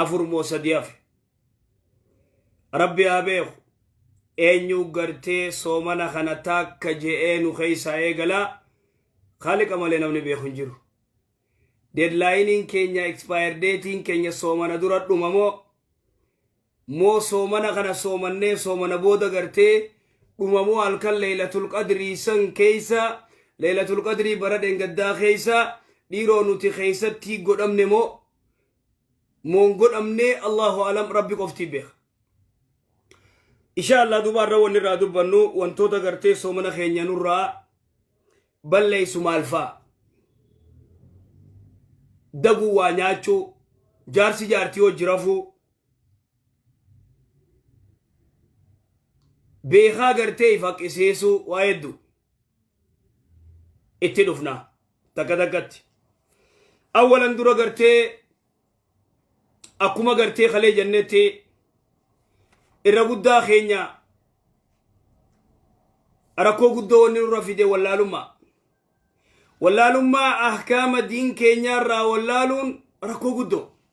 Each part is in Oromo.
afur moo sadii hafe rabbi haa beeku eenyu gartee soomana kana taakka je'ee nu keeysaa eegalaa kaaliqa malee namni beeku hin jiru deadlaayiniin keenya expire datein keenya soomana dura dhuma moo moo soomana kana soomannee soomana booda gartee dhumamoo halkan leeylatul qadrii san keeysa leeylatul qadrii bara dheengaddaa keeysa dhiiroo nuti keeysattii godhamne moo moon godhamne allahu alam rabbi qoftii beeka insha allah duba irra wanni irraa dubbannu wantoota gartee soomana keenya nurraa balleeysu maalfaa daguu waa nyaachuu jaarsi jaartii hojji rafuu beekaa gartee if haqisiisuu waa hedduu itti dhufna takka takkatti awwalan dura gartee akkuma gartee kalee jennetti irra guddaa keenya rakkoo guddoo wanni nurra fide wallaalummaa wallaalummaa ahkaama diin keenyaarraa wallaaluun rakkoo guddoo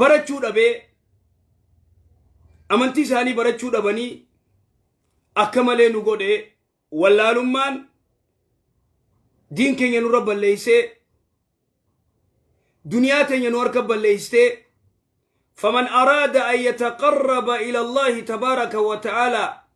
barachuu dhabee amantii isaanii barachuu dhabanii akka malee nu godhe wallaalummaan diin keenya nurra balleessee duniyaa teenya nu harka balleessee faman araada an yataqarraba ila allahi tabaaraka wa ta'aalaa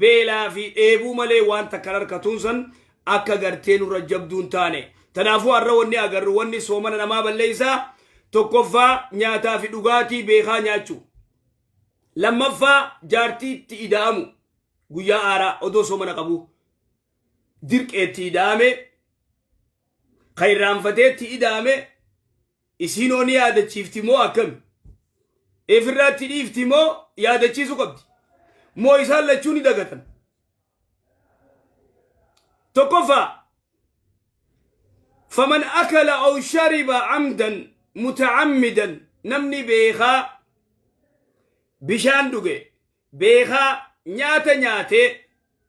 beelaa fi dheebuu malee waan takkan harkatuun san akka gartee nurra jabduun taane tanaafuu har'a wanni agarru wanni soomana namaa balleeysaa tokkoffaa nyaataa fi dhugaatii beekaa nyaachuu lammaffaa jaartii itti ida'amu guyyaa aaraa odoo soomana qabu dirqeetti ida'ame kan irraanfateetti ida'ame Isiinoo ni yaadachiifti moo akkami? Ifirraatti dhiifti moo yaadachiisu qabdi? Moo isaan lachuu ni dagatan? Tokkoffaa faman akala aw shariba amdan mutacammidan namni beekaa bishaan dhuge beekaa nyaata nyaatee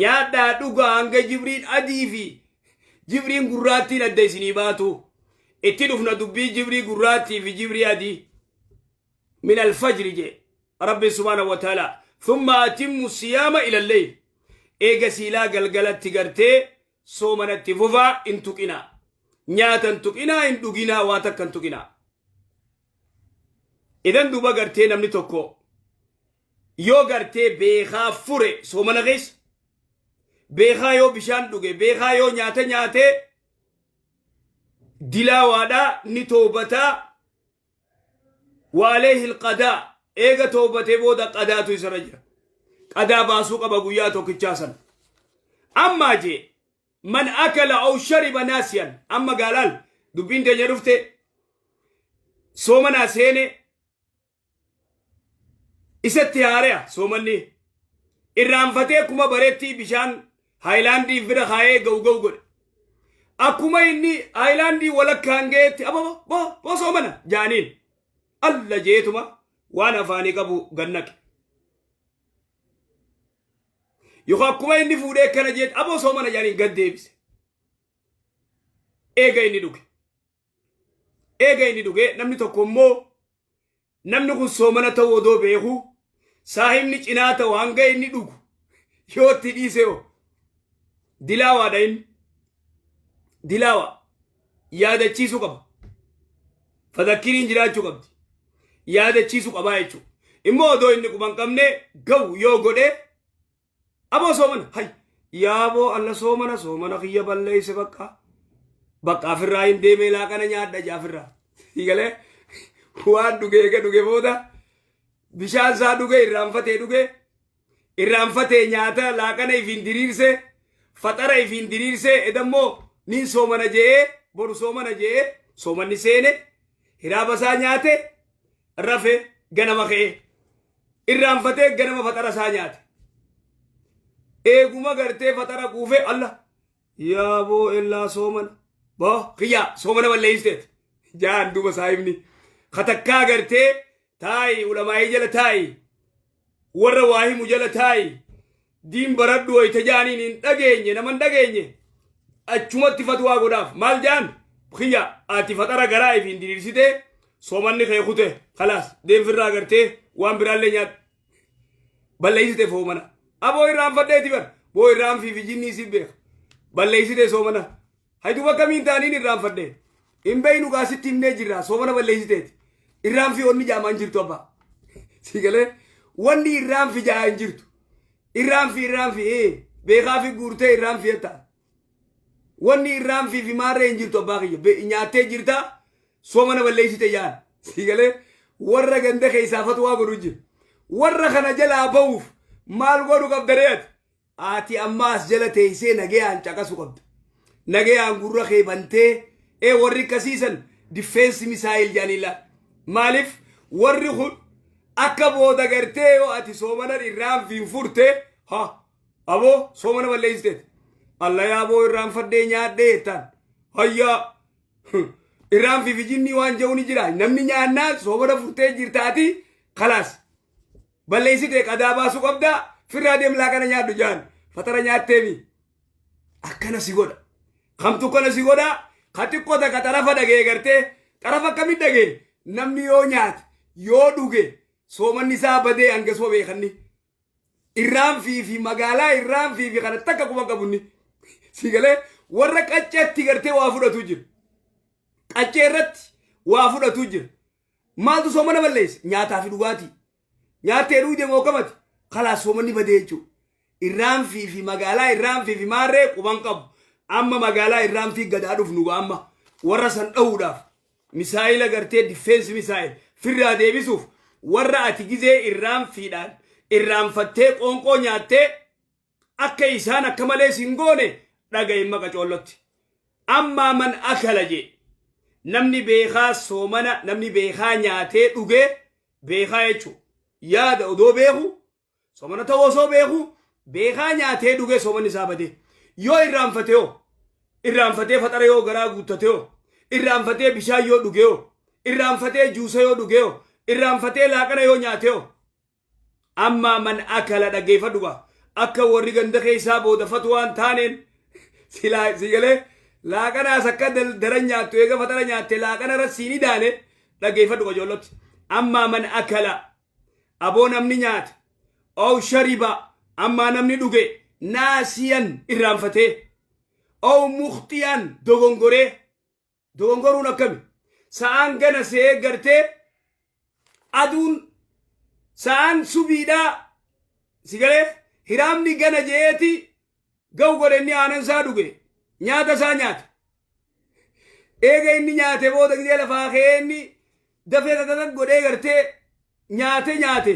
Nyaadhaa dhugaa hanga jibriin adii fi jibriin gurraattiin adda isinii baatu. Itti dhufna dubbii jibrii gurraattii fi jibrii adii. Min alfajri jee. Rabbi subhaanahu wa ta'ala. Thumma atimmu siyaama ilallee. Eega siilaa galgalatti gartee soomanatti fufaa hin tuqinaa. Nyaata hin tuqinaa hin dhuginaa waa takka hin tuqinaa. Idan duuba gartee namni tokko Yoo gartee beekaa fure soomana keessa beekaa yoo bishaan dhuge beekaa yoo nyaata nyaate dilaawaadha ni toobataa waalee hilqadaa eega toobatee booda qadaatu isarra jira qadaa baasuu qaba guyyaa tokkichaa san ammaa jee man akala aw shariba naasiyan amma gaalaal dubbiin teenya dhufte soomanaa seene isatti haare'a soomanni irraanfatee kuma bareettii bishaan haayilaandii bira kaa'ee ga'u ga'u godhe akkuma inni haayilaandii walakkaan ga'eetti ababa bo bo soomana jaaniin alla jeetuma waan afaanii qabu gannaqe yookaan akkuma inni fuudhee akkana jeetti aboo soomana jaaniin gad deebise eega inni dhuge eega inni dhugee namni tokko immoo namni kun soomana ta'uu odoo beeku saahibni cinaa ta'u hanga inni dhugu yoo itti dhiise hoo dilaawaadha inni dilaawa yaadachiisuu qaba fadakkiriin jiraachuu qabdi yaadachiisuu qabaa jechuudha immoo odoo inni quban qabne ga'u yoo godhe Aboo soomana hay yaaboo alla soomana soomana kiyya balleeyse bakka bakka afirraa hin deemee laaqana nyaadha jaa afirraa galee waan dhugee eega dhuge booda bishaan isaa dhuge irraanfatee dhuge irraanfatee nyaata laaqana ifiin diriirse faxara ifiin diriirse edammoo nin soomana je'ee boru soomana je'ee soomanni seene hiraaba isaa nyaate rafe ganama ka'ee. irraanfatee ganama faxara isaa nyaate eeguma gartee faxara quufee alla yaa boo ellaa soomana boo kiyyaa soomana balleeysteet jaan duuba saahibni katakkaa gartee taayi ulamaa'ii jala taayi warra waa himu jala taayi Diin baradhu wayta jaaniin hin dhageenye nama hin dhageenye achumatti fatwaa godhaaf maal jaan kiyya ati faxara garaa ifiin diriirsite soomanni kee kute kalaas deemfirraa agartee waan biraallee nyaadhu balleessite foomana aboo irraanfadheeti bar boo irraanfii fi jinnii si beeka balleessite soomana Hay duba kamiin taaniin irraanfadhe. Hin beeynu gaa sitti himnee jirra soomana balleessiteeti. Irraanfi onni jaamaa hin jirtu abbaa. Sii galee wanni irraanfi jaa hin jirtu. Irraanfi irraanfi ee beekaafi guurtee irraanfi jetta. Wanni irraanfi fi maarree hin jirtu abbaa kiyya. Be- Nyaattee jirta soomana balleessite jaan. Sii galee warra ganda keessaa fatwaa godhu jiru. Warra kana jalaa ba'uuf maal godhu qabda re'ati? Ati amma as jala teessee nagayaan caqasu qabda. Nagayaan gurra kee bantee ee warri akkasiisan diffeensi misaayil jedhanii laal. Maaliif warri kun akka booda gartee yoo ati soomana irraanfiin furte ha aboo soomana balleessiteeti. Allayaa aboo irraanfadhee nyaadhee jettaan. Hayyaa irraanfii fi jinnii waan jedhu ni jira. Namni nyaannaan soomana furtee jirtaati kalaas. balleessite qadaa baasuu qabda firraa deem laaqana nyaadhu jaan fatara nyaatteemi akkana si godha kamtu akkana si godha ka xiqqoo takka xarafa dhagee gartee xarafa akkamit dhagee namni yoo nyaate yoo dhuge soomanni isaa badee hanga soo beekanni irraan fi fi magaalaa irraan fi fi kana takka quba qabunni si galee warra qacceetti gartee waa fudhatu jira qaccee irratti waa fudhatu jira Maaltu soomana balleessa? Nyaataa fi dhugaatii. Nyaattee dhuydee mookamati. Kalaas soomanni badee jechuudha. Irraanfii fi magaalaa irraanfii fi maarree quban qabu. Amma magaalaa irraanfii gadaa dhufnu gaa amma warra san dhahuudhaaf misaayila gartee difeensi misaayil firraa deebisuuf warra ati gizee irraanfiidhaan irraanfattee qoonqoo nyaattee akka isaan akka malee sin goone dhagaye maqa coollotti ammaa man akala jee namni beekaa soomana namni beekaa nyaatee dhugee beekaa jechuu yaada odoo beeku soomana ta'uu osoo beeku beekaa nyaatee dhugee soomanni isaa badee yoo irraanfate hoo irraanfatee faxara yoo garaa guuttate hoo irraanfatee bishaan yoo dhugee hoo irraanfatee juusa yoo dhugee hoo irraanfatee laaqana yoo nyaatee hoo Ammaa man akala dhaggeeffadhu gaa akka warri ganda keessaa booda fatwaan taaneen silaa sii galee laaqanaas akka daran nyaattu eega faxara nyaatte laaqana irra sii ni daane dhaggeeffadhu qajoollatti ammaa man akala aboo namni nyaate ow shariba ammaa namni dhuge naasiyan irraanfatee ow muxxiyan dogongoree Dogongoruun akkami? Sa'aan gana se'ee gartee aduun sa'aan subiidhaa si galee hiraamni gana je'eeti ga'u godhe inni aanan isaa dhuge nyaata isaa nyaate. Eega inni nyaate booda gidee lafaa ka'ee inni Dafee dadadag godhee gartee nyaate nyaate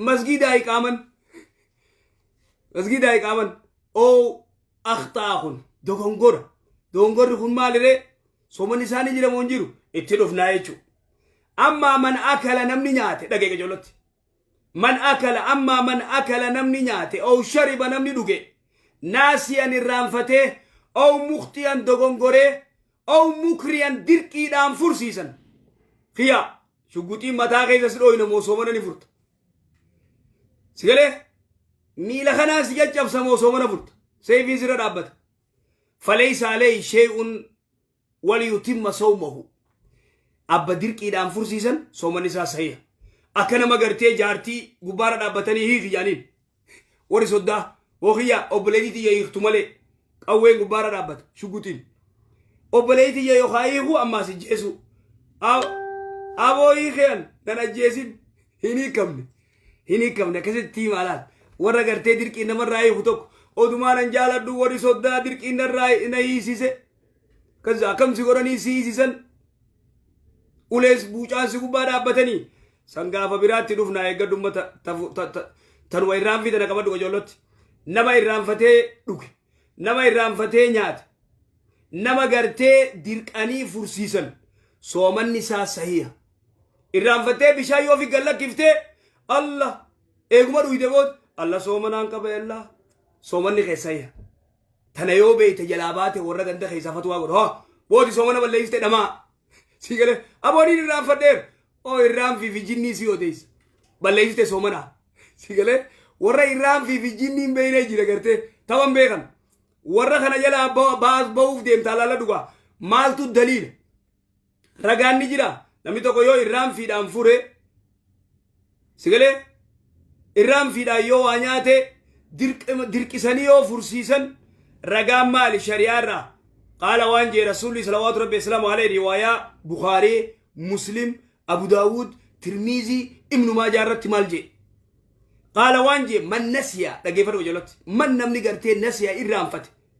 masgiidaa iqaaman masgiidaa iqaaman oo akhtaa kun dogongora dogongorri kun maaliree soman isaanii jiramoo hin jiru itti dhufnaa jechuu ammaa man akala namni nyaate dhagee qajolotti man akala ammaa man akala namni nyaate oo shariba namni dhuge naasiyan irraanfatee oo muktiyan dogongoree Ow mukriyan dirqiidhaan fursiisan. Kiyaa shugguxiin mataa keessa si dhooyna moo soomana ni furta. Si galee miila kanaan si caccabsa moo soomana furta. Seefiin sirra dhaabbata. Faleessa alee shee'uun waliyutimma soomahu. Abba dirqiidhaan fursiisan soomanni isaa sahiha. Akka nama gartee jaartii gubbaarra dhaabbatanii hiiki jaaniin. Warri soddaa hookiyyaa obboleettii tiyya hiiktu malee qawween gubbaarra dhaabbata shuguxiin. Obboleettii tiyya yookaan hiikuu ammaas ijjeesuu. Aboo hiikean nan ajjeesin hin hiikamne. Hin hiikamne akkasitti hiima laal. Warra gartee dirqiin namarraa hiiku tokko odumaa nan jaaladhu warri soddaa dirqiin narraa na hiisise. Kaza akkam si godhanii si hiisisan ulees buucaan si gubbaa dhaabbatanii san gaafa biraatti dhufna eeggadhu ummata tafu- ta- ta- tanuma irraanfii tana qabadhu qajoollatti nama irraanfatee dhuge nama irraanfatee nyaate nama gartee dirqanii fursiisan soomanni isaa sahiha irraanfattee bishaan yoo fi gallakkiftee allah eeguma dhuyde bood allah soomanaan qaba allah soomanni kee sahiha tana yoo beeyte jalaa baate warra ganda keessaa fatwaa godha hoo booti soomana balleessite dhamaa sii galee abooniin irraanfadheer oo irraanfii fi jinnii sii odeessa balleessite soomana sii galee warra irraanfii fi jinnii hin beeynee jira gartee taban beekan warra kana jalaa ba- baas ba'uuf deemtaa laala dhugaa maaltu daliila Ragaan ni jira. Namni tokko yoo irraan fiidhaan fure sigalee irraan fiidhaan yoo waa nyaate dirqisanii yoo fursiisan ragaan maali shari'aa irraa qaala waan jee rasuulli salawaatu rabbi islaamu alee riwaayaa bukaaree muslim abu daawud tirmiizii ibnu maajaa irratti maal jee qaala waan jee man nasiyaa dhageeffadhu jalatti man namni gartee nasiyaa irraanfate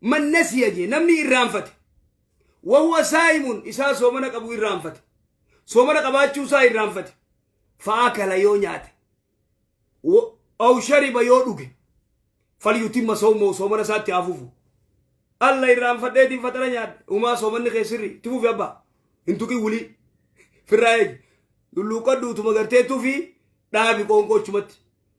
Man nasiya jee namni irraanfate. Wahuwa saa'imun isaa soomana qabu irraanfate. Soomana qabaachuu isaa irraanfate. Fa'aakala yoo nyaate. Wa- Aw shariba yoo dhuge. Falyutimma sawmahu soomana isaatti haa fufu. Alla irraanfadheetiin faxara nyaadhe. Umaa soomanni kee sirri. Itti fufi abbaa. Hin tuqin wulii. Firraa eegi. Lulluuqqadhu utuma gartee tufi dhaabi qoonqoo achumatti.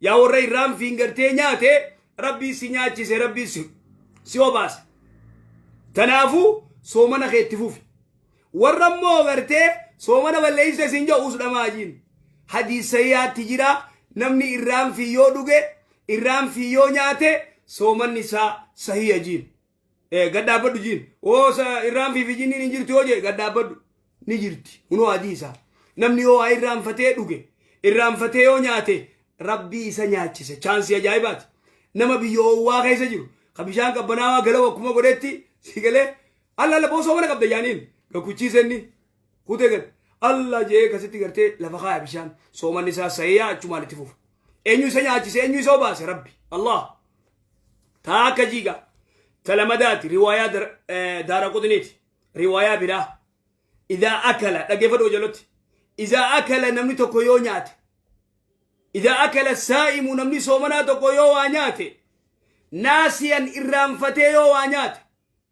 Yaa warra irraan fiingartee nyaate rabbii si nyaachise rabbii si si obaase. Kanaafuu soomana kee itti fufi. Warra immoo gartee soomana balleessa isin jedhu usdhamaa jiin. Hadiisayyaatti jira namni irraan fi yoo dhuge irraan fi yoo nyaate soomanni isaa sahiya jiin. Eh, gad dhaabbadhu jiin oo sa irraanfii fi jinniin hin jirtu yoo jee gad dhaabbadhu ni jirti hunoo adii isaa namni yoo waa irraanfatee dhuge irraanfatee yoo nyaate rabbii isa nyaachise chaansii ajaa'ibaati nama biyya oowwaa keessa jiru ka bishaan qabbanaawaa galawa akkuma godhetti si galee alla alla boosoo mana qabda jaaniin gakuchiisenni kutee gad allah jee kasitti gartee lafa kaaya bishaan soomanni isaa sahiyaa achumaan itti fufu eenyu isa nyaachise eenyu isa obaase rabbi allah taa akka jiiga talamadaati riwaayaa dar- eh, daara qutniiti riwaayaa biraa idaa akala dhaggeeffadhu hojalotti idaa akala namni tokko yoo nyaate idaa akala saa'imu namni soomanaa tokko yoo waa nyaate naasiyan irraanfatee yoo waa nyaate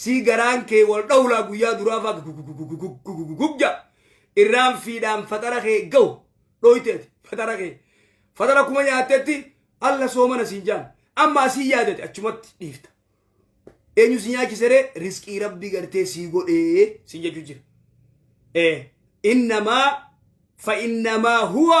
sii garaan kee wal dhawlaa guyyaa duraa faa gugugugugugugugugugja irraan fiidhaan faxara kee gahu dhooyteeti faxara kee faxara kuma nyaattetti alla soomana siin jaan amma asii yaadate achumatti dhiifta eenyu si nyaachiseree risqii rabbii gartee sii godhee siin jechuu jira ee innamaa fa innamaa huwa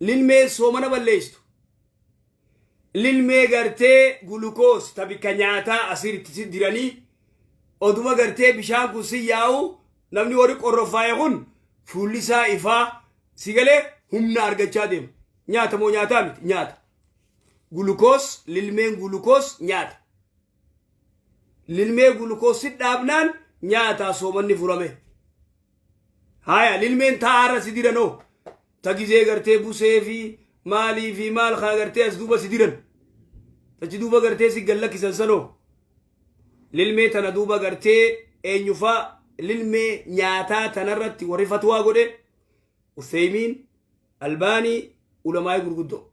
lilmee soomana balleesstu lilmee gartee gulukoos ta bikka nyaataa asiiritti si diranii oduma gartee bishaan kun si yaa'u namni warri qorroffaa'e kun fuulli isaa ifaa si galee humna argachaa deema nyaata moo nyaataa miti nyaata gulukoos lilmeen gulukoos nyaata Lilmee gulukoossi dhaabnaan nyaataa soomanni furame. Haaya lilmeen taa'aarra si diran hoo ta gizee gartee busee fi maalii fi maal kaa gartee as duuba si diran. Tachi duuba gartee si gallakkisan sanoo. Lilmee tana duuba gartee eenyufaa lilmee nyaataa tanarratti warri fatwaa godhe Uthaymiin, Albaanii, ulamaa'ii gurguddoo.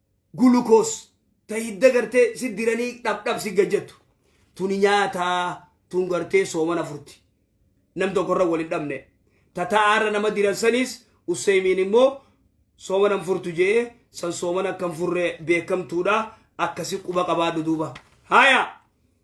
glucose, ta hidda gartee si diranii dhab dhab si gajjattu. Tuni nyaataa tun gartee soomana furti. Nam tokkorra wal hin dhabne. Ta ta'aarra nama diran saniis Usseeymiin immoo soomana hin furtu je'ee san soomana akka hin furre beekamtuudha akkasi quba qabaadhu duuba. Haya!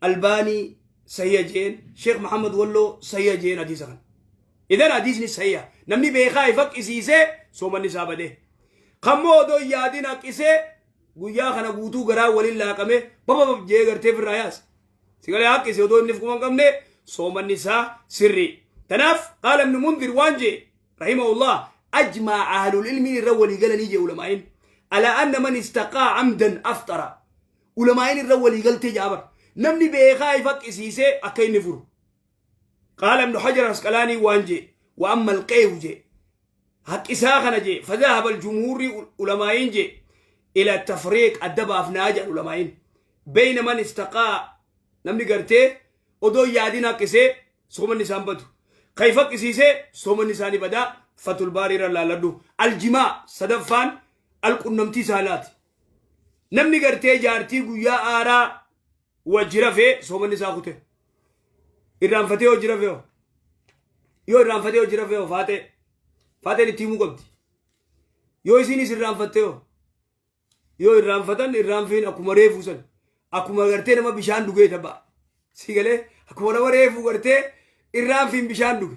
albaanii sahiha jeen sheekh muhammad walloo sahiha jeen hadiisa kana idan hadiisni sahiha namni beekaa ifa qisiisee soomanni isaa badee kammoo odoo hin yaadin haqisee guyyaa kana guutuu garaa waliin laaqame bababab jee gartee firraa yaas sigalee haqqise odoo inni fukuma hin qabne soomanni isaa sirrii tanaaf qaala ibnu mundir waan jee rahimahullah ajmaa ahlul ilmiin irra walii galanii jee ulamaa'in ala anna man istaqaa amdan aftara ulamaa'iin irra walii galtee ja'a bar namni beekaa if haqqisiisee akka inni furu qaala ibnu hajar asqalaanii waan jee wa amma alqeehu jee haqqisaa kana jee fadahaba aljumhuurri ulamaa'iin jee ila tafriiq adda baafnaa jedhan ulamaa'iin beeyna man istaqaa namni gartee odoo yaadin haqqisee soomanni isaan badu kan if haqqisiisee soomanni isaanii badaa fatul baarii irra laalladhu aljimaa sadaffaan alqunnamtii saalaati Namni gartee jaartii guyyaa aaraa wajji rafee soomanni isaa kute. Irraanfatee hojii rafee hoo? Yoo irraanfatee hojii rafee hoo faatee? Faateen itti himuu qabdi. Yoo isiinis irraanfattee hoo? Yoo irraanfatan irraanfiin akkuma reefuu san. Akkuma gartee nama bishaan dhugee tapha. Si galee akkuma nama reefuu gartee irraanfiin bishaan dhuge.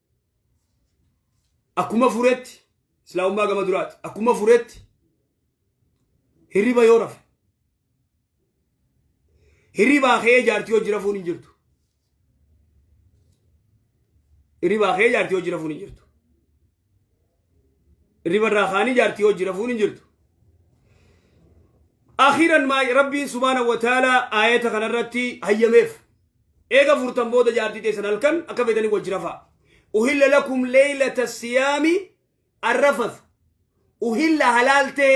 akkuma furetti islaamummaa gama duraati akkuma furetti hirriba yoo rafe hirribaa kee jaartii hojii rafuun hin jirtu hirribaa kee jaartii hojii rafuun hin jirtu Irriba irraa kaanii jaartii hojii rafuun hin jirtu. Akhiran maa Rabbiin subhaanahu wa ta'ala aayata kanarratti hayyameef. Eega furtan booda jaartii teessan halkan akka feetanii wajji rafaa. Uhilla lakum leeylata siyaami arrafatu. Uhilla halaal ta'e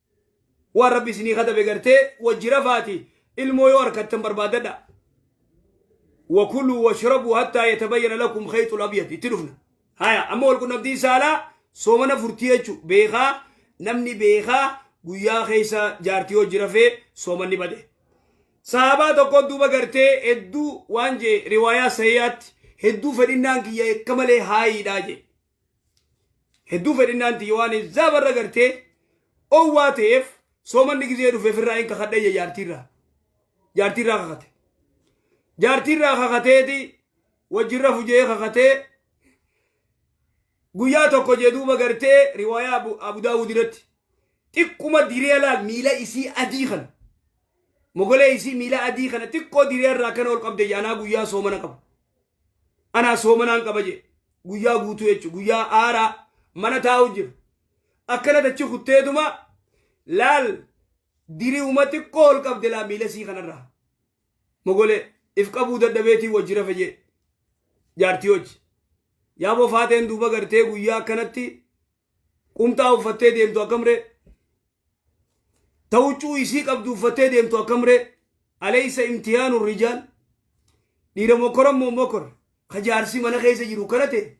waan rabbi isinii katabe gartee wajji rafaati ilmoo yoo arkattan barbaadadha wakuluu washrabuu hattaa yatabayyana lakum khayxul abyad itti dhufna haya amma wal qunnamtii saalaa soomana furtii jechu beekaa namni beekaa guyyaa keessa jaartii wajji rafee soomanni bade sahabaa tokko duuba gartee hedduu waan jee riwaayaa sahiyaatti hedduu fedhinnaan kiyya akka malee haayiidhaa jee Hedduu fedhinnaan tiyya waan hizaaba irra gartee owwaa ta'eef soomanni gizee dhufeef irraa hin kakadhayya jaartiirraa. Jaartiirraa kakate. Jaartiirraa kakateeti wajjin rafu jee kakatee guyyaa tokko jee duuba gartee riwaayaa Abu Daawud irratti xiqquma diree laal miila isii adii kana. Mogolee isii miilaa adii kana xiqqoo diree irraa akkana ol qabde anaa guyyaa soomana qabu. Anaa soomanaan qaba jee guyyaa guutuu jechuudha. Guyyaa aaraa mana taa'u jiru. Akkana dachi kutteetuma laal diri'uma xiqqoo ol qabde laa miila isii kanarraa. Mogolee if qabuu dadhabeetii wajji rafe jee jaartii hojji. Yaaboo faateen duuba gartee guyyaa akkanatti Qumxaa uffattee deemtu akkam ree? Ta huccuu isii qabdu uffattee deemtu akkam ree? Aleessa imtihaanu rijaal. Dhiira mokoran moo mokor. Ka jaarsi mana keessa jiru kana ta'e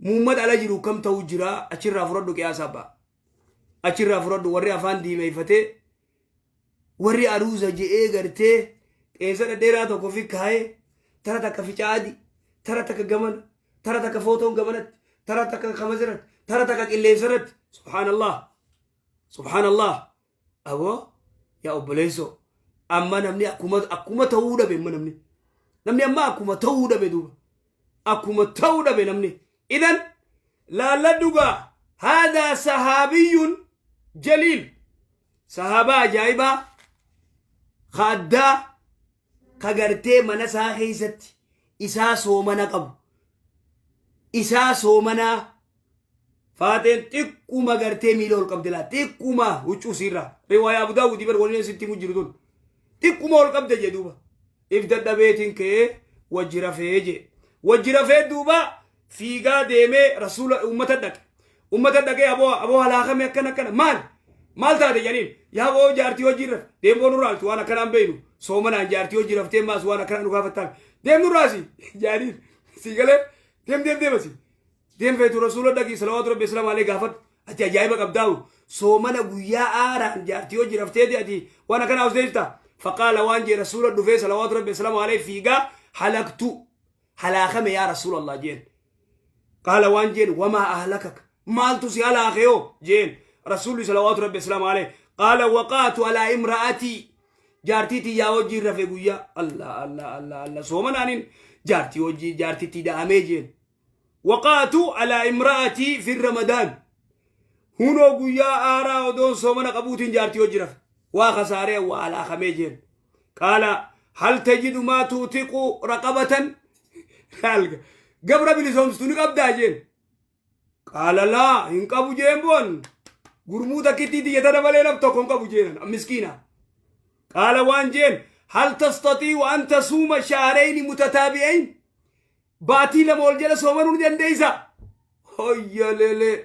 muummata ala jiru kam ta'uu jira achirraa fudhadhu qiyaasaa ba'a. Achirraa fudhadhu warri afaan diimeeffatee warri aruuza je'ee gartee qeensa dhadheeraa tokko fi kaayee tara takka ficaa adii tara takka gamana tara takka footoon gamanatti tara takka kamaziratti tara takka qilleensarratti subhaanallah subhaanallah aboo yaa obboleessoo amma namni akkuma akkuma ta'uu dhabe amma namni namni amma akkuma ta'uu dhabe duuba akkuma ta'uu dhabe namni idan laalladhugaa haadaa sahaabiyyuun jaliil sahaabaa ajaa'ibaa ka addaa ka gartee mana isaa keessatti isaa soomana qabu isaa soomanaa Faateen xiqquma gartee miila ol qabde laa xiqquma huccuu siirraa riwaayaa Abu Daawudi bar waliin sitti himu jiru tun xiqquma ol qabde jee duuba if dadhabeetiin ka'ee wajji rafee jee wajji rafee duuba fiigaa deemee rasuula ummata dhaqe ummata dhaqee aboo aboo halaakame akkana akkana maal maal taate jedhaniin yaa boo jaartii hojii irra deemboon irraa altu waan akkanaan beeynu soomanaan jaartii hojii raftee maas waan akkanaan nu gaafattaan deemnu irraasi jaaniin sii galee deem deem deemasi Deem feetu rasuula dhaqii salawaatu rabbi islaam alee gaafadhu ati ajaa'iba qabdaawu soomana guyyaa aaraan jaartii hojii rafteeti ati waan akkana hawsdeefta faqaala waan jee rasuula dhufee salawaatu rabbi islaam alee fiigaa halaktu halaakame yaa rasuula allah jeen qaala waan jeen wamaa ahlakak maaltu si halaakeyo jeen rasuulli salawaatu rabbi islaam alee qaala waqaatu alaa imra'atii jaartii tiyyaa hojii rafe guyyaa allah allah allah allah soomana anin jaartii hojii jaartitti da'amee jeen waqaatu alaa imra'atii fi ramadaan hunoo guyyaa aaraa odoon soomana qabuutiin jaartii hojii rafe waa kasaaree waa alaakamee jeen qaala hal tajidu maa tuutiqu raqabatan laalga gabra bilisoomstu ni qabdaa jeen qaala laa hin qabu jeen boon gurmuu takkittii tiyyata dabalee laf tokko hin qabu jeenan miskiina qaala waan jeen hal tastatii wa an tasuuma shaareyni mutataabi'ayn Baatii lama ol jala soomanuu ni dandeessa. Hoyyalelee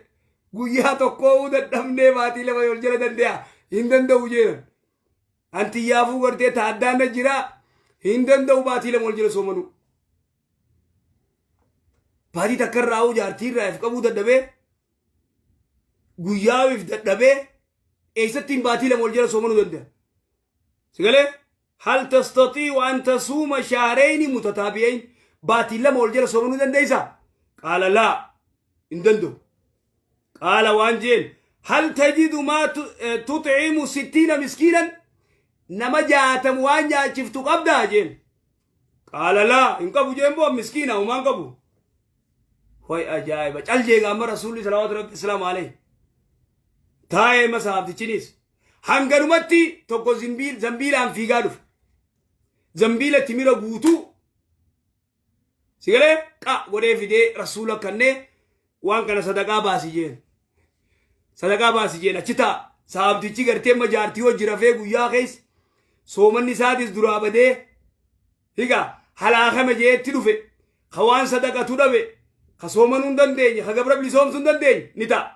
guyyaa tokkoo dadhabnee baatii lama ol jala dande'a hin danda'u jeenan. Anti yaafuu gartee taaddaan na jira hin danda'u baatii lama ol jala soomanuu. Baatii takka irraa hoo jaartii irraa if qabuu dadhabee guyyaa if dadhabee eessattiin baatii lama ol jala soomanuu danda'a. Sigalee? Hal tastatii'u an tasuuma shahrayni mutataabi'ayn? Baatii lama wal jala soomanu dandeeysa? Qaala laa. Hin danda'u. Qaala waan jeen hal tajidu maa tu- eh, tut'imu sittiina miskiinan? Nama jaatam waan nyaachiftu qabdaa jeen. Qaala laa. Hin qabu jeen boo miskiina homaan qabu. Hoy ajaa'iba. Cal jeega amma rasuulli salawaatu rabbi islaam alayhi. Taa'ee masaaftichinis. Hanganumatti tokko zimbiil- zambiilaan fiigaa dhufe. Zambiila timira guutuu sigalee qa godhee fidee rasuula kannee waan kana sadaqaa baasi jeen. Sadaqaa baasi jeen achi ta'a. Saabtichi gartee amma jaartii hojii rafee guyyaa keessa soomanni isaatis duraa badee higa halaakame jeetti dhufe ka waan sadaqatu dhabe ka soomanuu hin dandeenye ka gabra bilisoomsuu hin dandeenye ni ta'a.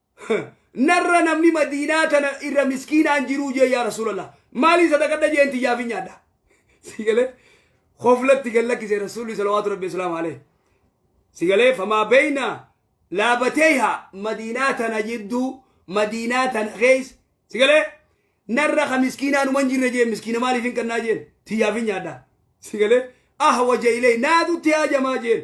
narra namni madiinaa tana irra miskiinaan jiruu jee yaa rasuulallah maalii sadaqadha jeen tiyyaafin nyaadha sigalee koflatti gad lakkise rasuulli salawaatu rabbi islaam alee sigalee famaa beeyna laabateeha madiinaa tana jidduu madiinaa tana keessa sigalee narra ka miskiinaa numan jirre jeen miskiina maaliif hin kannaa jeen tiyyaafin nyaadha sigalee ahwaja ilee naatutti haajamaa jeen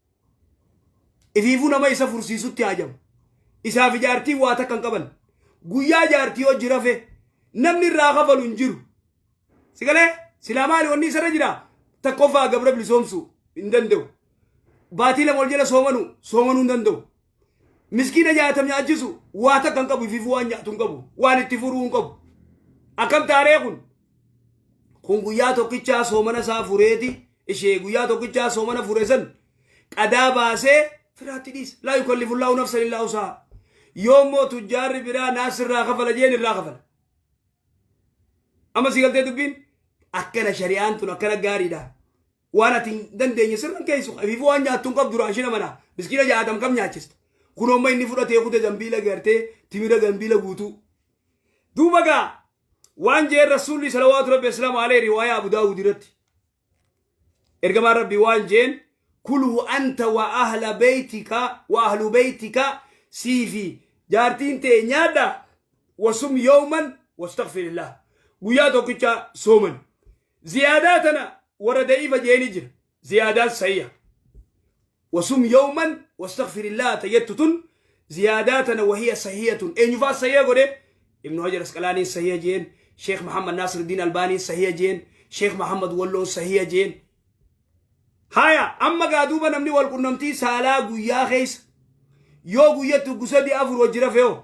Ifiifuu nama isa fursiisutti haajamu. Isaaf ijaartiin waa takka hin qaban. Guyyaa ijaartii hojii rafe namni irraa kafalu hin jiru. Sigalee silaa maali wanni isarra jira takkoffaa gabra bilisoomsu hin danda'u. Baatii lama ol jala soomanu soomanuu hin danda'u. miskiina nyaata nyaachisu waa takka hin qabu ifiif waan nyaatu hin qabu waan itti furuu hin qabu akkam taaree kun kun guyyaa tokkichaa soomana isaa fureeti ishee guyyaa tokkichaa soomana fure san qadaa baasee firaatti dhiisa laa yukallifu llaahu nafsan illaa usahaa yoo immoo tujjaarri biraa naas irraa kafala jeen irraa kafala amma si galtee dubbiin akkana shari'aan tun akkana gaariidha waan ati hin dandeenye sirra hin keessu habiifu waan nyaattu hin qabdu raashina manaa miskiina jaatam kam nyaachista kun amma inni fudhatee kute zambiila gartee timira zambiila guutuu duuba gaa waan jeen rasuulli salawaatu rabbi asalaamu alee riwaayaa abu daawud irratti ergamaan rabbi waan jeen kulhu anta wa ahla beytika wa ahlu beytika siifi jaartiin tee nyaadha wasum yooman wastakfirillah guyyaa tokkicha sooman Ziyaadaa tana warra da'iifa je'eeni jira. Ziyaadaan sahiha. Wasum yawman wastaghfirillaha ta jettu tun ziyaadaa tana wahiya sahiyatun. Eenyufaa sahiha godhe? Ibnu Hajar Asqalaaniin sahiha je'een. Sheekh Muhammad Naasiruddiin Albaaniin sahiha je'een. Sheekh Muhammad Walloon sahiha je'een. Haya amma gaa duuba namni wal qunnamtii saalaa guyyaa keessa yoo guyyatti uggu sadii afur wajji rafeeho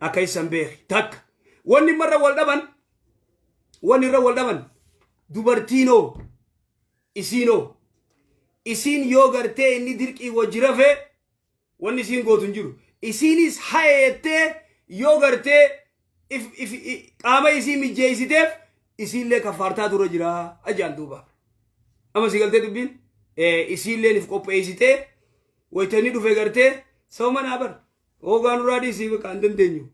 akka isan beeki takka wanni marra wal dhaban wanni irra wal dhaban dubartiinoo isiinoo isiin yoo gartee inni dirqii wajji rafee wanni isiin gootu hin jiru isiinis hayeettee yoo gartee if- if- i- qaama isii mijjeessiteef isiillee kaffaartaa dura jira ajaan duuba amma si galtee dubbiin Eh, isiilleen if qopheessitee waytanni dhufe gartee sababa naa bar Oogaa nurraa dhiisii baqa hin dandeenyu.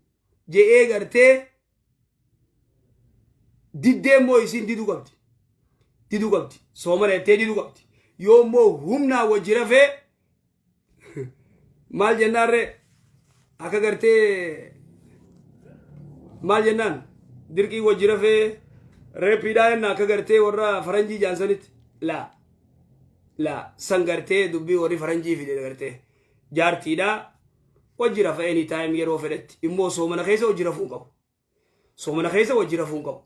Je'ee gartee diddee immoo isiin diduu qabdi. Diduu qabdi. Soomana jettee diduu qabdi. Yoo immoo humnaa wajji rafee maal jennaarree akka gartee maal jennaan dirqii wajji rafee reeppiidhaa jenna akka gartee warra faranjii jaansanitti laa laa san gartee dubbii warri faranjii fide gartee Jaartiidhaa wajji rafa any time yeroo fedhetti immoo soomana keessa wajji rafuu hin qabu. Soomana keessa wajji rafuu hin qabu.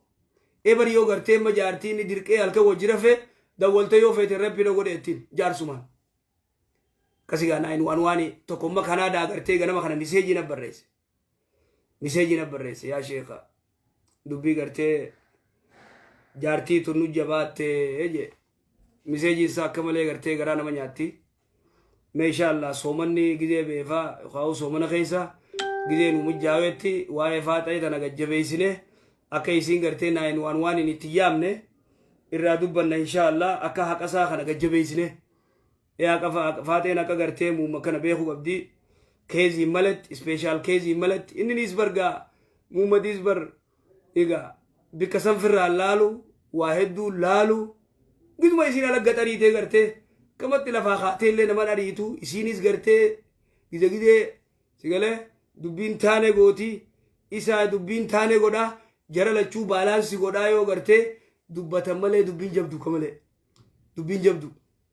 Ebar yoo gartee amma jaartii inni dirqee halkan wajji rafee dawwaltee yoo feete reppi na godhe ittiin jaarsumaan. Akkasii gaa naayin waan waani tokko amma Kanaadaa gartee ganama kana miseejii na barreesse. miseejii na barreesse yaa sheeka dubbii gartee jaartii tun nu jabaatte jee miseejiin isaa akka malee gartee garaa nama nyaatti meeshaa allaa soomanni gizee beefaa kaa'u soomana keessa gizee nu mijjaaweetti waa'ee faaxa'ee tana gajjabeessine akka isiin gartee naayin waan waan hin itti yaamne irraa dubbanna inshaa allaa akka haqasaa kana gajjabeessine Eaqa fa- faaxeen akka gartee muumma kana beeku qabdi. Keeziin malatti, ispeeshaal keeziin malatti. Inni niis bargaa muummadiis bar egaa bikka sanfirraa laalu waa hedduu laalu giduma isiin alagga xariitee gartee kamatti lafaa kaatee illee naman ariitu isiinis gartee gide gidee sigalee dubbiin taane gooti isaa dubbiin taane godha jara lachuu baalaansi godhaa yoo gartee dubbatan malee dubbiin jabdu kamalee dubbiin jabdu.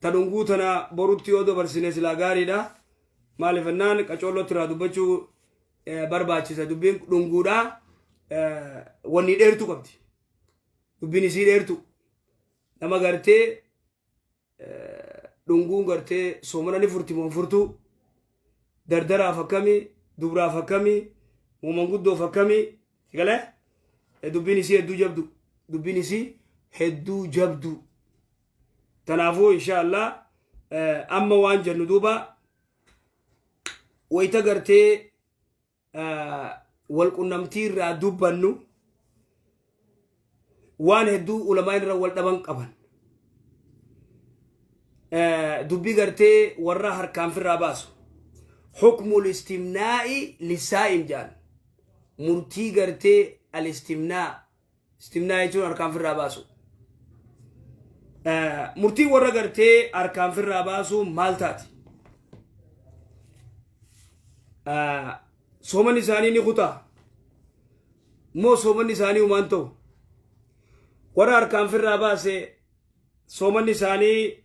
Ta dhunguu tana borutti yoo dabarsine silaa gaariidha. Maaliif jennaan qacoollotti irraa dubbachuu eh, barbaachisa. Dubbiin dhunguudha. Eh, Wanni dheertuu qabdi. Dubbiin isii dheertuu. Nama gartee eh, dhunguun gartee soomana ni furti moo hin furtuu. dardaraaf akkami dubraaf akkami manguddoof akkami si galee Eh, dubbiin isii hedduu jabdu dubbiin isii hedduu jabdu tanaafuu insha allah eh, amma waan jennu duuba wayita gartee walqunnamtii irraa dubbannu waan hedduu ulamaa irra wal dhaban qaban. Dubbii gartee warra harkaan firraa baasu. Hukmul istimnaa'i lisaa'im jedhan. Murtii gartee al-istimnaa Istimnaa jechuun harkaan firraa baasuu. Murtiin warra gartee harkaan firraa baasuu maal taati? Sooman isaanii ni kutaa? Moo sooman isaanii humaan ta'u? Warra harkaan firraa baase sooman isaanii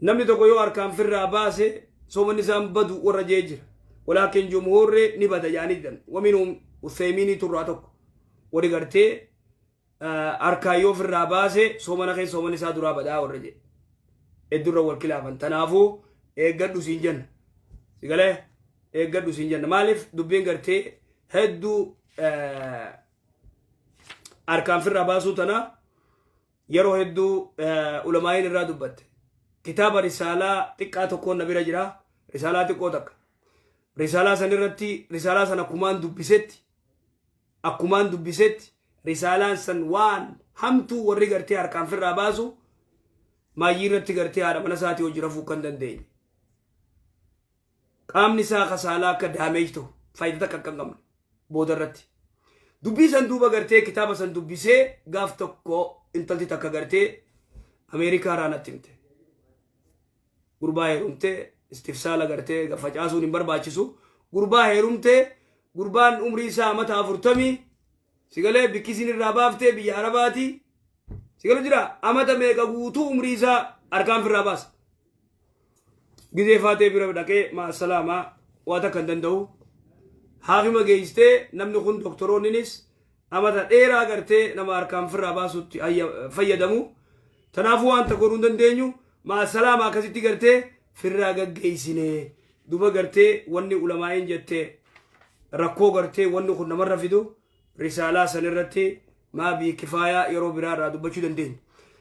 namni tokko yoo harkaan firraa baase soomanni isaan badu warra jee jira walaakin jumhuurri ni bada jaanii jedhan waminum useemiinii turraa tokko wari gartee harkaan yoo firraa baase soomana keessa soomanni isaa duraa badaa warra jee heddurra wal kilaafan tanaafuu eeggadhu siin jenna sigalee eeggadhu siin jenna maaliif dubbiin gartee hedduu harkaan firraa baasuu tanaa yeroo hedduu ulamaa'iin irraa dubbatte kitaaba risaalaa xiqqaa tokkoon na bira jira risaalaa xiqqoo takka risaalaa san irratti risaalaa san akkumaan dubbisetti akkumaan dubbisetti risaalaan san waan hamtuu warri gartee harkaan firraa baasu maayyii irratti gartee haadha mana isaatii hojii rafuu kan dandeenye qaamni isaa akka saalaa akka damage ta'u faayida takka akka hin qabne booda irratti dubbii san duuba gartee kitaaba san dubbisee gaaf tokko intalti takka gartee ameerikaa irraa natti himte gurbaa heerumte istifsaala gartee facaasuun hin barbaachisu gurbaa heerumte gurbaan umrii isaa amata afurtamii sigalee bikkisiin irraa baaftee biyya arabaati sigalu jira amata meeqa guutuu umrii isaa harkaan firraa baasa Gizee faatee bira dhaqee ma'assalaama waa takka hin danda'u. Haakima geessitee namni kun doktoroonninis amata dheeraa agartee nama harkaan firraa baasutti fayyadamu. Tanaafuu wanta godhuu hin dandeenyu ma'assalaama akkasitti gartee firraa gaggeessine. Duba gartee wanni ulamaa'een jette rakkoo gartee wanni kun namarra fidu risaalaa san irratti maa bii kifaayaa yeroo biraa irraa dubbachuu dandeenya.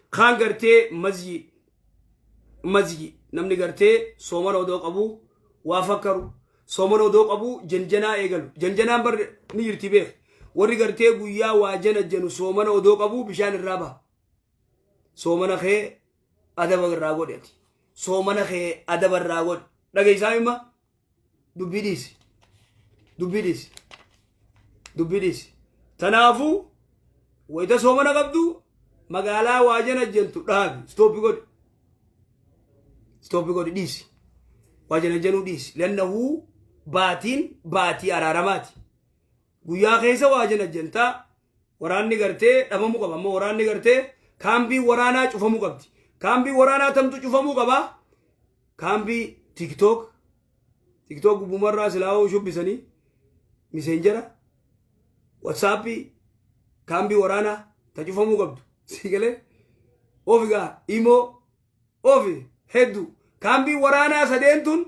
Kaan gartee mazyi mazgi namni gartee soomana odoo qabu waa fakkaru soomana odoo qabu janjanaa eegalu janjanaan bar ni jirti beek warri gartee guyyaa waa janajjanu soomana odoo qabu bishaan irraa baha soomana kee adaba irraa godhi ati soomana kee adaba irraa godhi dhageessaa imma dubbii dhiisi dubbii dhiisi dubbii dhiisi tanaafuu wayita soomana qabdu magaalaa waa janajjantu dhaabi stoopi godhi stoopi godhi dhiisi waa janajjanuu dhiisi lannahuu baatiin baatii araaramaati Guyyaa keessa waa jena jenta waraanni gartee dhabamu qaba amma waraanni gartee kaambii waraanaa cufamu qabdi kaambii waraanaa tamtu cufamuu qaba kaambii tiktok tiktok gubbumarraa silaa'oo shubbisanii miseenjera watsaappii kaambii waraanaa ta cufamuu qabdu sii galee ofi gaa imoo ofi heddu kaambii waraanaa sadeen tun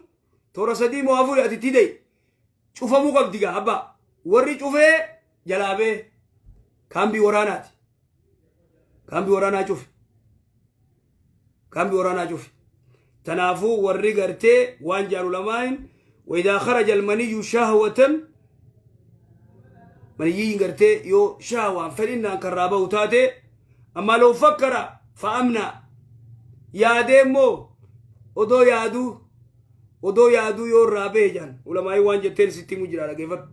toora sadii moo afuri ati tidai cufamuu qabdi gaa abbaa warri cufee jalaa bee kaambii waraanaati kaambii waraanaa cufe kaambii waraanaa cufe tanaafuu warri gartee waan jaalu lamaayin waidaa kharaja almaniyyu shahwatan maniyyiin gartee yoo shahwaan fedhinnaan kan raaba'u taate ammaa loo fakkara fa'amnaa yaadee immoo odoo yaaduu odoo yaaduu yoo irraa bahe jaan ulamaa'ii waan jetteen sitti himu jira dhageeffadhu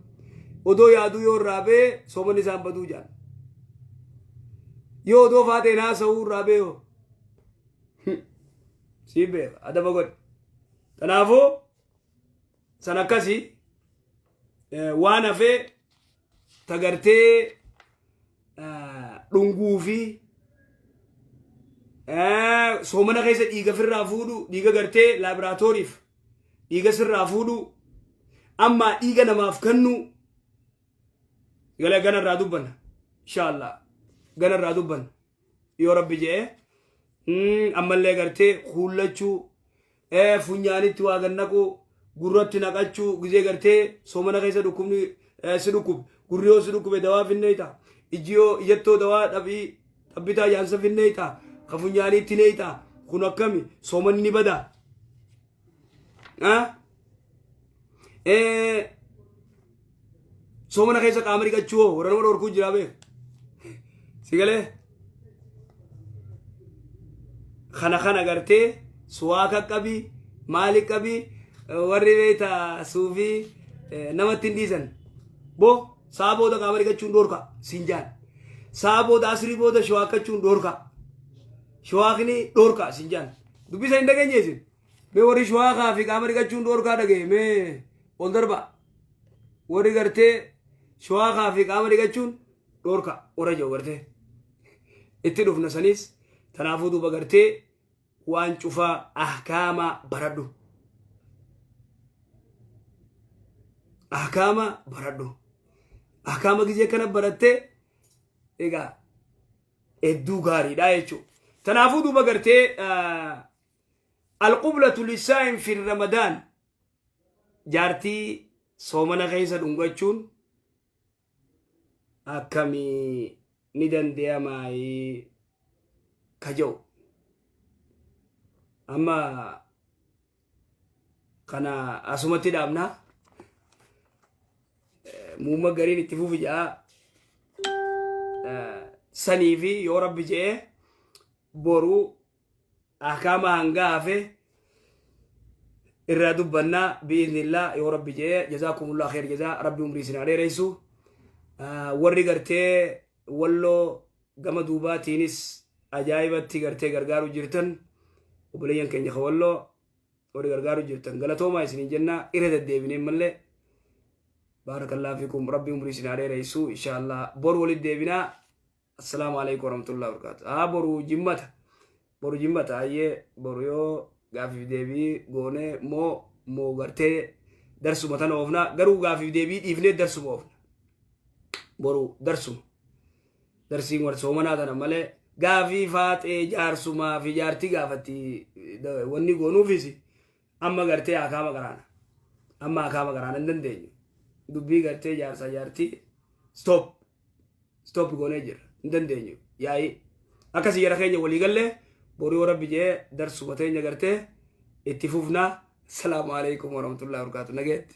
odoo yaaduu yoo irraa bahe soomanni isaan baduu jaan yoo odoo faateen haasa'uu irraa bahe hoo sii beeka adaba godhe kanaafuu san akkasii waan hafee ta gartee ah, dhunguu fi ah, soomana keessa dhiiga firraa fuudhu dhiiga gartee laaboraatooriif dhiiga sirraa fuudhu amma dhiiga namaaf kennu gala ganarraa dubbanna insha allah ganarraa dubbanna yoo rabbi je'e Mm, ammallee gartee kuullachuu eh, funyaanitti waa gad naquu gurratti naqachuu gizee gartee soomana keessa dhukkubni eh, si dhukkube gurri yoo si dhukkube dawaa finneeyta iji yoo ijattoo dawaa dhabii dhabbitaa jaansa finneeyta ka funyaaniitti neeyta kun akkami soomanni ni badaa soomana keessa qaama dhiqachuu hoo warra nama dhorkuu jiraa bee si galee kana kana gartee suwaaka qabi maali qabi warri beeta suufi namatti hin dhiisan bo saa booda qaama dhiqachuun dhorka siin jaan saa booda asrii booda shawaakkachuu dhorka shawaakni dhorka siin jaan Dubbisa hin dhageenye isin. Mee warri shawaa kaa fi qaama dhiqachuun dhoorkaa dhaga'e mee ol darbaa. Warri gartee shawaa kaa fi qaama dhiqachuun dhoorkaa warra jiru gartee. Itti dhufna saniis tanaafuu duuba gartee waan cufaa ahkaamaa baradhu. Ahkaama baradhu. Ahkaama gizee kana barattee egaa hedduu gaariidha jechuudha. Tanaafuu duuba gartee alqublatu lisaa'in fi ramadaan jaartii soomana keessa dhungachuun akkamii ni danda'amaayii ka jedhu. Amma kana asumatti dhaabna muumma gariin itti fufi ja'a sanii fi yoo rabbi je'e boruu ahkaama hangaa hafe irraa dubbannaa bi'iznillaa yoo rabbi je'e jazaakumullaa kheer jazaa rabbi umrii isin haa dheereysu warri gartee walloo gama duubaatiinis ajaa'ibatti gartee gargaaru jirtan obboleeyyan keenya ka walloo warri gargaaru jirtan galatoomaa isiniin jennaa irra deddeebinee malee baarakallaa fiikum rabbi umrii isin haa dheereessu inshaallah bor walitti deebinaa assalaamu alaikum warahmatullahi wabarakaatu haa boru jimmata Boru jimmata hayyee boru yoo gaaffiif deebii goone moo moo gartee darsuma tana oofna garuu gaaffiif deebii dhiifnee darsuma oofna boru darsuma darsiin war soomanaa tana malee gaafii faaxee jaarsumaa fi jaartii gaafatti wanni goonuufis amma gartee akaama qaraana amma akaama qaraana hin dandeenyu dubbii gartee jaarsaa jaartii stop stop goonee jirra hin dandeenyu yaa'ii akka siyyara keenya walii gallee boru yoo rabbi jee darsuma teenya gartee itti fufnaa salaamu alaikum warahmatullahi wabarakatuh nageetti